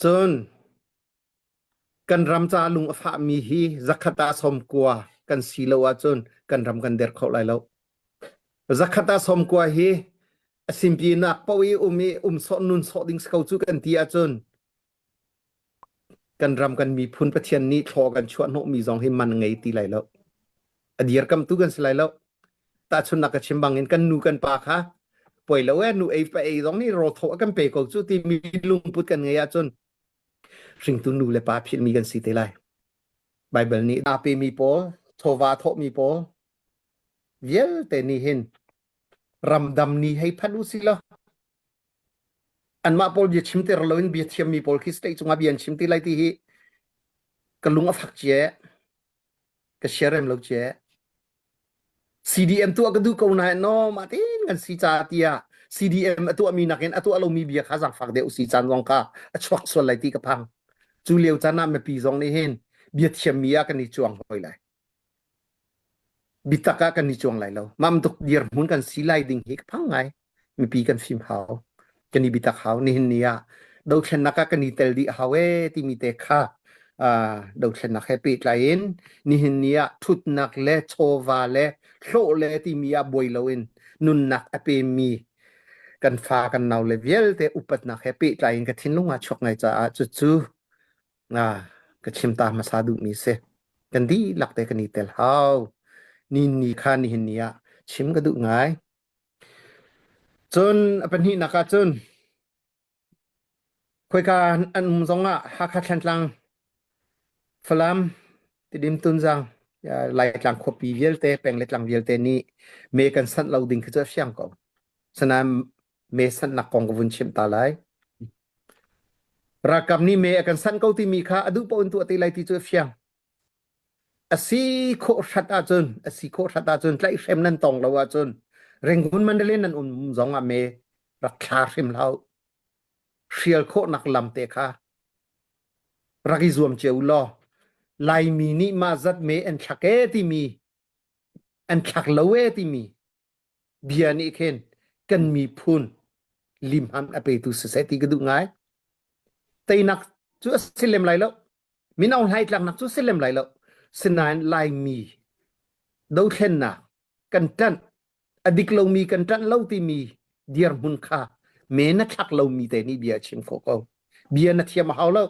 Cun kan ram caah lung a fahmi hi zakhat ah sawmkua kan si lo ahcun kan ram kan der kho lai lo. Zakhat ah sawmkua hi a simpinnak paoh i um i um sawh nun sawh ding si ko cu kan ti ahcun kan ram kan miphun Pathian nih thlaw kan chuah hnawhmi zong hi man ngei ti lai lo. a dirkamtu kan si lai lo tahchunnak ka chim bangin kan nu kan pa kha poi lo e nu ei pa ei zong nih ro thaw kan pe ko cu ti mi lungput kan ngei ahcun hringtu nu le pa philmi kan si te lai Bible nih a pe mi pawl chawva thawh mi pawl vialte nih hin ramdam ni hei phan u si lo anmah pawl bia chim ter loin bia thiam mi pawl khi state cungah bia an chim ti lai ti hi ka lung a fak cie ka share rem lo ce CDM tuah ka duh ko nain no ma tin kan si ca tiah CDM a tuahmi nakin a tuah lomi bia kha zang fak deuh si caan zong ka a chuak sual lai ti ka phang cu lio caan ah mipi zong nih hin bia thiammi ah kan i chuang hoi lai bitak ah kan i chuang lai lo mam tuk dir mun kan si lai ding hi ka phang ngai mipi kan fim hau kan i bitak hau nihin ni ah dothlennak ah kan i tel dih hau e timi te kha dothlennak he pehtlai in nihin ni ah thutnak le chawva le hlawh le timi ah buai loin nunnak a pemi kan fa kan nau le vialte upatnak he pehtlai in ka thinlung ah chuak ngai caah cu cu ka chim ta hmasa duhmi si kan dihlak te kan i tel hau ni ni kha nihin ni ah chim ka duh ngai Cun a pahnihnak ah cun khoika an um zongah Hakha Thlantlang, Falam, Tidim Tunzang, Laitlang khuapi vialte peng le tlang vialte nih me kan sanh lo ding khi cu a fiang ko. Asinain me sanhnak kong ka vun chimh ta lai. Ralkap nih me a kan sanh ko timi kha a duh paoh in tuah ti lai ti cu a fiang. A si khawh hrat ahcun a si khawh hrat ahcun tlaihhrem nan tong lo ahcun Rangoon Mandalay nan um zong ah me rak thla hrim hlah hrial khawhnak lam te kha rak i zuam cio law Laimi nih mah zat me an thlak e timi an thlak lo e timi bia nih khin kan miphun limham a petu si seh ti ka duh ngai teinak cu a si lem lai lo mino hlaitlaknak cu si lem lai lo sinain laimi dothlennak kan ṭanh a dik lomi kan ṭanh lo timi dirhmun kha men na thlak lomi te nih bia a chim khawh ko bia na thiam a hau lo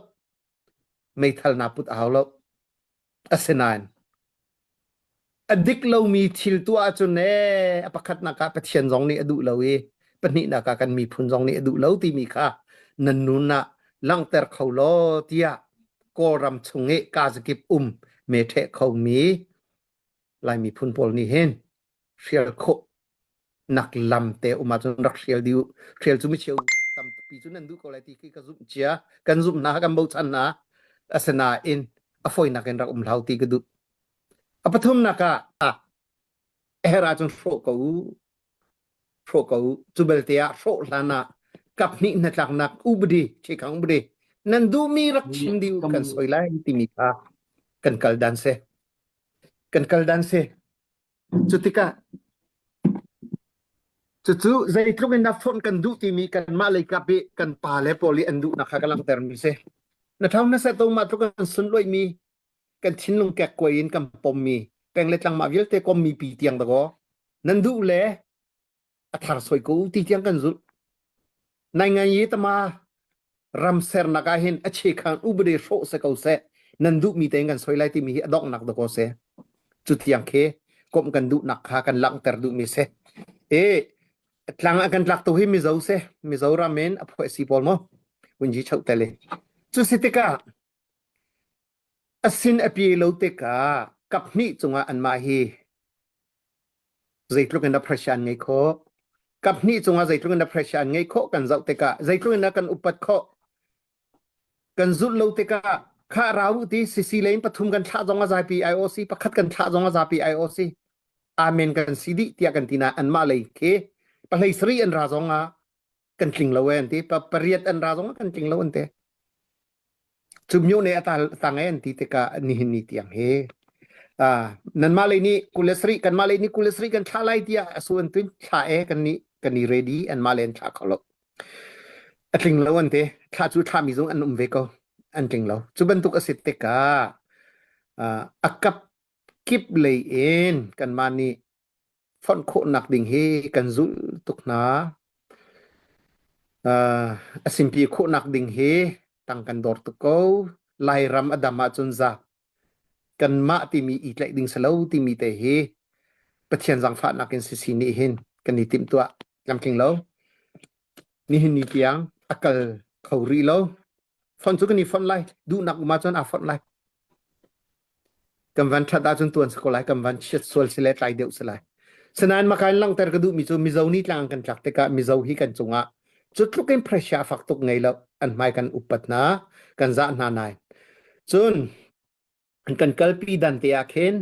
meithal na put a hau lo asinain A dik lomi thil tuah ahcun ee a pakhatnak ah Pathian zong nih a duh lo i pahnihnak ah kan miphun zong nih a duh lo timi kha nan nun ah langhter kho law tiah Kawlram chung i kazakip um meṭheh khomi Lai miphun pawl nih hin hrial khawh nak lam te um ahcun rak hrial dih u hrial cu micheu tampi cu nan duh ko lai ti khi ka zumh cia kan zumhnak kan bochan hna asinain a foinak in rak um hlau ti ka duh a pathumnak ah her ahcun hrawh ko u hrawh ko u cu belte ah hrawh hlan ah kap hnih hnatlaknak ubadi ṭhekang ubadi nan duhmi rak chim dih kan soi lai timi kha kan kal dan se kan kal dan se Cutikah cucu zeitluk in dah fonh kan duh timi kanmah leikap i kan pa le pawl i an duhnak kha ka langhtermi si. Na thau na set mah tluk kan sunloihmi kan thinlung kek kuai in kan pommi peng le tlangmah vialte kommi pi tiang dakaw nan duh le a thar soi ko ti tiang kan zulh nai ngai ye tama ram sernak ah hin a che khang ubade hrawh se ko se nan duh mi te kan soi lai timi hi a dongnak da ko se cu tiang khi kom kan duh nak kha kan langter duh mi se e tlang a kan tlak to hi mizo se mizoram men a phoi si pol mo unji chau tele cu sitika A sin a pe lo tikah kaphnih cungah anmah hi zeitluk in a pressure an ngei khawh. Kaphnih cungah zeitluk in a pressure an ngei khawh kan zoh tikah zeitluk in a kan upat khawh kan zulh lo tikah kha rau u ti sisi le in pathum kan thlah zong a zapi IOC pakhat kan thlah zong a zapi IOC amen kan si dih tiah kan tina anmah lei khi pahlei sari an ra zong ah kan tling lo an ti pariat an ra zong kan tling lo an te cu myo ne ata tang an ti tika ni hin ni tiang he a nan ma le ni kulesri kan ma le ni kulesri kan thla lai tia asu an tuin thla e kan ni kan ni ready an ma len thla kholo a tling lo an te thla chu thla mi zong an um ve ko an tling lo chu bantuk asit tika a akap kip lei en kan ma ni fonh khawhnak ding hi kan zulh tuk hna. Uh, a simpi khawhnak ding hi tang kan dor tuk ko. Lairam a dam ahcun zak kanmah timi i tlaih ding selo timi te hi Pathian zangfahnak in sisi nih hin kan i timtuah tlamtling lo. Nihin ni tiang a kal kho rih lo. Fon cu kan i fon lai. Duhnak um ahcun aa fon lai. kan van that ahcun tuan sa ko lai kan van chiat sual si le tlai deuh si lai sinain maka in langhter ka duh mi cu mizo ni tlang kan tlak tikah mizo hi kan cungah cutluk in pressure fak tuk ngei lo an hmai kan upat hna kan zah hna nai cun kan kalpi dan te ah khin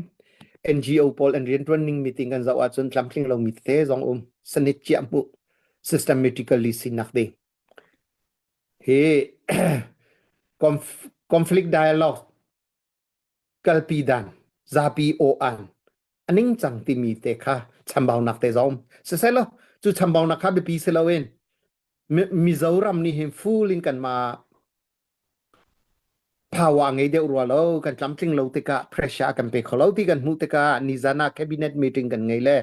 NGO pawl an riantuan ning meeting kan zoh ahcun tlamtling lo mi te zong um sanit ciah mu systematically sinak ding hi conflict dialogue kalpi dan, zapi aw-an, a ningcang timi te kha chambaunak te zong siselaw cu chambaunak kha biapi si loin Mizoram nih hin full in kanmah power ngei deuh rua lo kan tlamtling lo tikah pressure kan pe kho lo ti kan hmuh tikah nizan ah cabinet meeting kan ngei le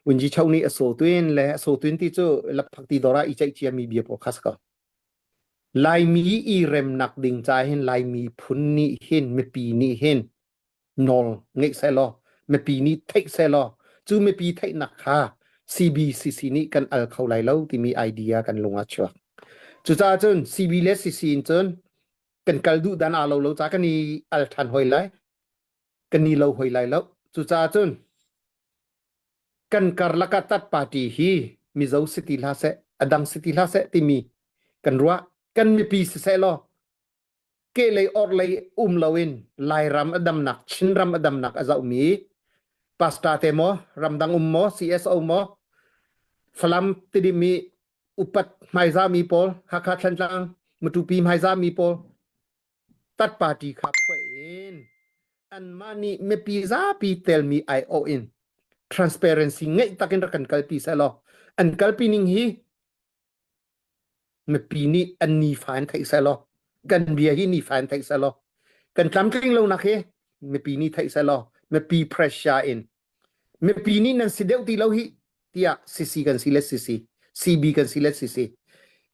Unji Cho nih a so tuin le a so tuin ti cu laphak ti dora i ceih ciami bia paw kha sa ko. Laimi i remnak ding cahin Laimi phun nih hin mipi nih hin nawl ngeih sehlaw mipi nih theih sehlaw cu mipi theihnak kha CBCC nih kan al kho lai lo timi idea kan lung a chuak. Cucaah cun CB le CC in cun kan kal duh dan aa lo lo ca kan i al ṭhan hoi lai. kan ni lo hoi lai lo cucaah cun kan karlak ah tat party hi mizo si ti hla seh adang si ti hla seh timi kan ruah kan mipi si seh law ke lei or lei um loin lairam adamnak chin ram adamnak azaumi pasta te mo ramdang um mo CSO mo falam tidimi upat hmaizami pol hakha thantlang matupi hmaizami pol tat party kha phuah in anmah nih mipi zapi telmi aiawh in transparency ngeih takin rak kan kalpi seh law an kalpi ning hi mipi nih an nifa in theih seh law kan bia hi nifa in theih seh law kan tlamtling lonak hi mipi nih theih seh law mipi pressure in mipi nih nan si deuh ti lo hi tiah CC kan si let CC CB kan si let CC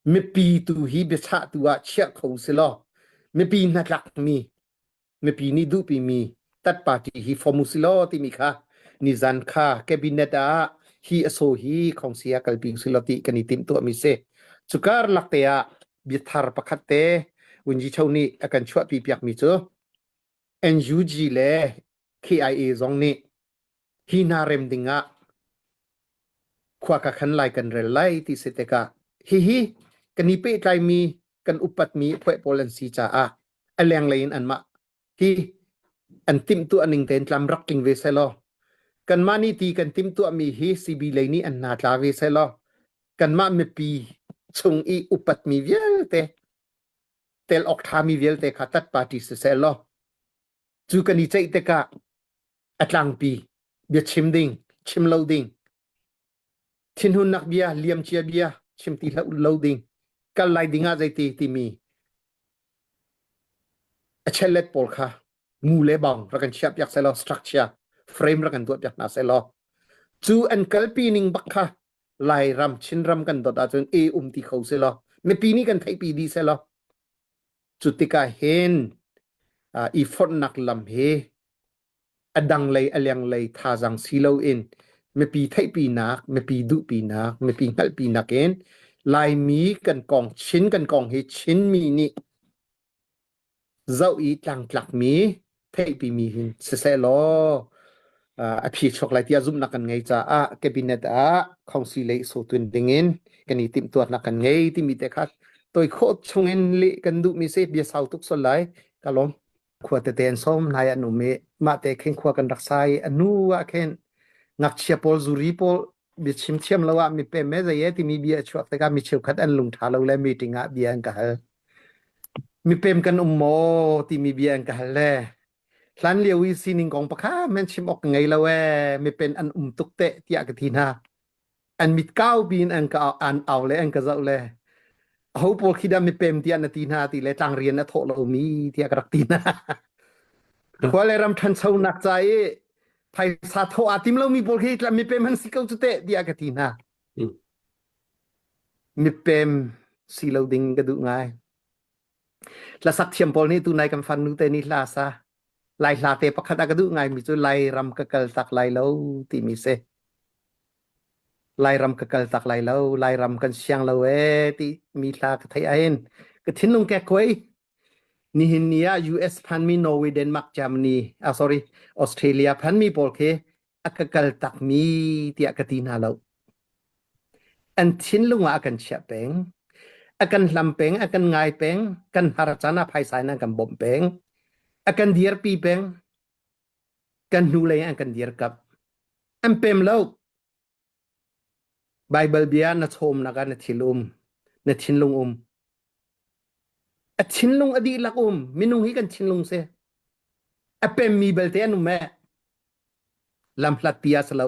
mipi tu hi biachah tu ah chiah kho si law mipi hnatlak mi mipi nih duhpi mi tat party hi form si law timi kha nizan kha cabinet ah hi aso hi khongsi ah kalpi si law ti kan i tim tuah mi si cukar lak te ah biathar pakhat te unji cho nih akan chuah pi piak mi cu NUG le KIA zong nih hi hna rem ding ah khua ka khan lai kan rel lai ti si tikah hihi kan i pehtlaimi kan upatmi phuai pawl an si caah a lenglei in anmah hi an timtuah ning tein tlam rak tling ve selaw kanmah nih ti kan timtuahmi hi CB lei nih an hna tla ve selaw kanmah mipi chung i upatmi vialte tel ok thami vialte kha tat party si seh law cu kan i ceih tikah a tlangpi bia chim ding chim lo ding thinhunnak bia liamcia bia chim ti lo ding kal lai ding ah zeiti timi a chellet pawl kha ngu le bang rak kan chia piak selaw structure frame rak kan duat piak hna selaw cu an kalpi ning bak kha lairam chinram kan dot ahcun e um ti kho selaw mipi nih kan theihpi di selaw Cu tikah hin uh, i fonhnak lam hi a dang lei a leng lei thazaang si loin mipi theihpinak, mipi duhpinak, mipi hngalhpinak in Laimi kan kong Chin kan kong hi Chinmi nih zoh i tlangtlakmi theihpi mi hin sisehlaw uh, a phi chok lai tiah zumhnak kan ngei caah cabinet ah council lei so tun ding in kan i timhtuatnak kan ngei timi te kha toi kho chung in li kan duh mi se bia sau tuk sol lai ka lom khua te ten som nai an um i ma te khen khua kan rak sai anu a khen ngakchia pawl zuri pawl bia chim thiam lo ah mi pe me zai e timi bia chuak te ka mi cheu khat an lung tha lo le meeting ah bia an ka hal Mipem kan um maw timi bia in ka hal le hlan lio i sining kong pakha men chim awk ka ngei lo ee mipen an um tuk teh tiah ka ti hna an mit kaupi in an ka an au le an ka zoh le ho pawl khi dah mipem tiah na ti hna ti le tlang rian a thawh lomi tiah ka rak ti hna khua le ram ṭhanchonak ca i phaisa thawh aa tim lomi pawl khi tla mipem an si ko cu teh tiah ka ti hna Mipem si lo ding ka duh ngai. Hlasak thiam pawl nih tunai kan fanu te nih hla sa. Lai hla te pakhat a ka duh ngai mi cu Lai ram ka kal tak lai lo timi si. Lai ram ka kal tak lai lo, Lai ram kan siang lo e ti mi hla ka thei ain. Ka thinlung ke koi. Nihin ni ah US phan mi Norway, Denmark, Germany, ah sorry, Australia phan mi pawl khi a ka kal takmi tiah ka ti hna lo an thinlung ah a kan chiah peng a kan hlam peng a kan ngai peng kan har can ah phaisa in an kan bawmh peng a kan dirpi peng kan hnulei an kan dirkap an pem lo Baibal bia na chawmnak ah na thil um, na thinlung um. A thinlung a dihlak um. Minung hi kan thinlung si. A pemmi belte an um e. Lam hlatpi a si lo.